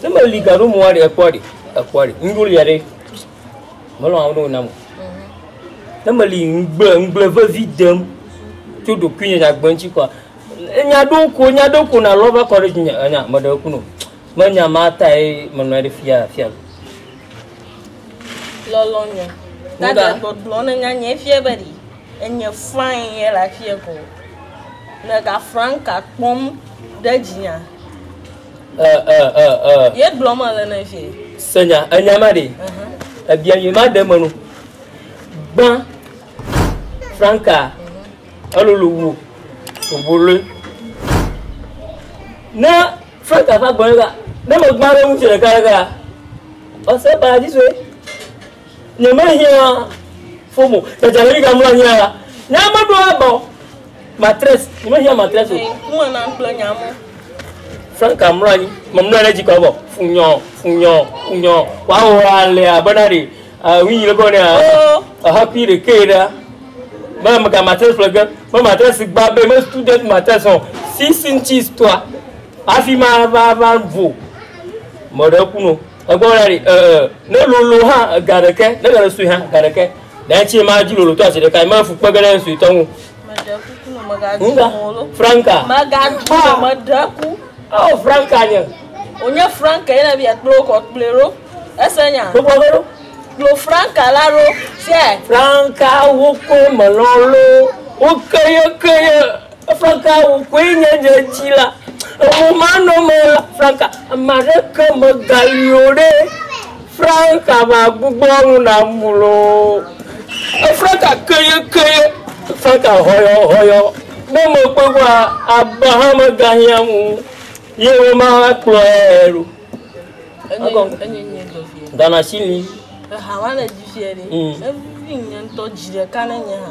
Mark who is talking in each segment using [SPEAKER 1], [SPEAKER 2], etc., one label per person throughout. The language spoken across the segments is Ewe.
[SPEAKER 1] Ne me li gaɖo mɔa ɖe ekpɔ ɖe ekpɔ ɖe ŋɖo lia ɖe melɔ awo ɖewo nam o. Ne me li ŋgble ŋgble vevi dem tso ɖokui nye nyagbe ŋuti kɔa enya ɖo ko enya ɖo ko na lɔ va kɔ ɖe dzi nya nya me ɖe eku no. Me nya ma ta ye me nɔ ɖe fia fia. Lɔlɔ nya. Na ɖe gbɔgblɔ ne nya nye fia be ɖi. Enye Frank ye le afie ko. Le ga Franka kpɔm ɖe dzinya. Ɛ ɛ ɛ ɛ. Ye gblɔ me le ne vie. Senya enya ma ɖe. Ebia yi ma ɖe me no. Gbã Franka elolo wo obolo. Ne Franka va gbɔ ne ga ne me gbã ɖe ŋutsu ɖeka ɖeka. Ɔsɛ ba dzi soe. Nyemehiã fo mo. Dzadzɛ ɖe ɖiga mlɔ anyi a nya meɖo aba o. Matress, nyemehiã matress o. Mlɔ na kplɔ nya mo. Franka mlɔ anyi. Memlɔ ɖe dzi kɔ bɔ. Funyɔ, funyɔ, funyɔ. Wawo ale abe na ɖe. Wi yi le kɔ ne a. Aha kui ɖe ke ɖa. Me me ka matress ƒle ge. Me matress gba be me student matress o. Six inches toa. Afi ma va va vo. Mɔɖe ku no. Egbɔ la ɖi ee ne lolo hã ga ɖeke ne ga sue hã ga ɖeke ɖe tsi ma dzi lolo to asi ɖeka ma fu kpe ge ɖe sue tɔ ŋu. Nuga Franka. Magadu ah. medaku. Oh Franka nye. Onye Franka yena bi akplo ko kple ro. Ese nya. Gbogbo be ro. Kplo Franka la ro. Franka wo ko melolo. Wo keye keye. Franka wò koe nye nye dzila emumanɔme la Franka ameaɖeke megali o ɖe Franka magbugbɔ nu nam loo Franka keye keye Franka hɔyɔ hɔyɔ ne mekpɔe kpɔa aba hã megahiã ŋu ye woma kplɔe ɖo Ghana shilling eha wa le dzi fiɛ ɖe evi ŋutɔ dzi ɖeka ne nye hã.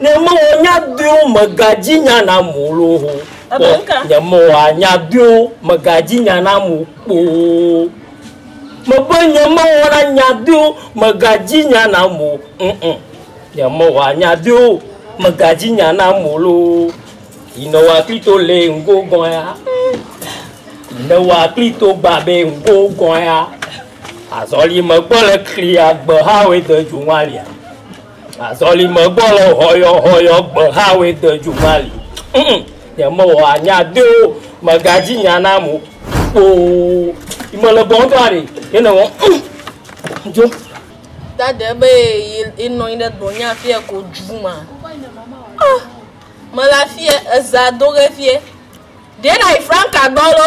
[SPEAKER 1] Ne me wɔ nya dɔeo me ga dzi nya na mo lo ho kpɔ nye me wɔ a nya dɔeo me ga dzi nya na mo kpoo me be nye me wɔ na nya dɔeo me ga dzi nya na mo ŋ nye me wɔ a nya dɔeo me ga dzi nya na mo lo yi ne wa kli to le ŋgo gɔn ya yi ne wa kli to gba be ŋgo gɔn ya azɔli me gbɔ le kli agbe ha we de ju ŋwa lia Azɔli megbɔ le hɔyɔhɔyɔ gbehawoe de dzu mali. Mm, nyemewɔ anya de o, megadzi nya na mo kpoo. Mele gbɔ ŋutɔ aɖe, yene wɔ. Mm, jo. Dade be yenɔ anyi ɖe dɔnya afia ko dzu ma. Ah, mele afia, eza do ge fie. Ɖe na yi franka gbɔ lo.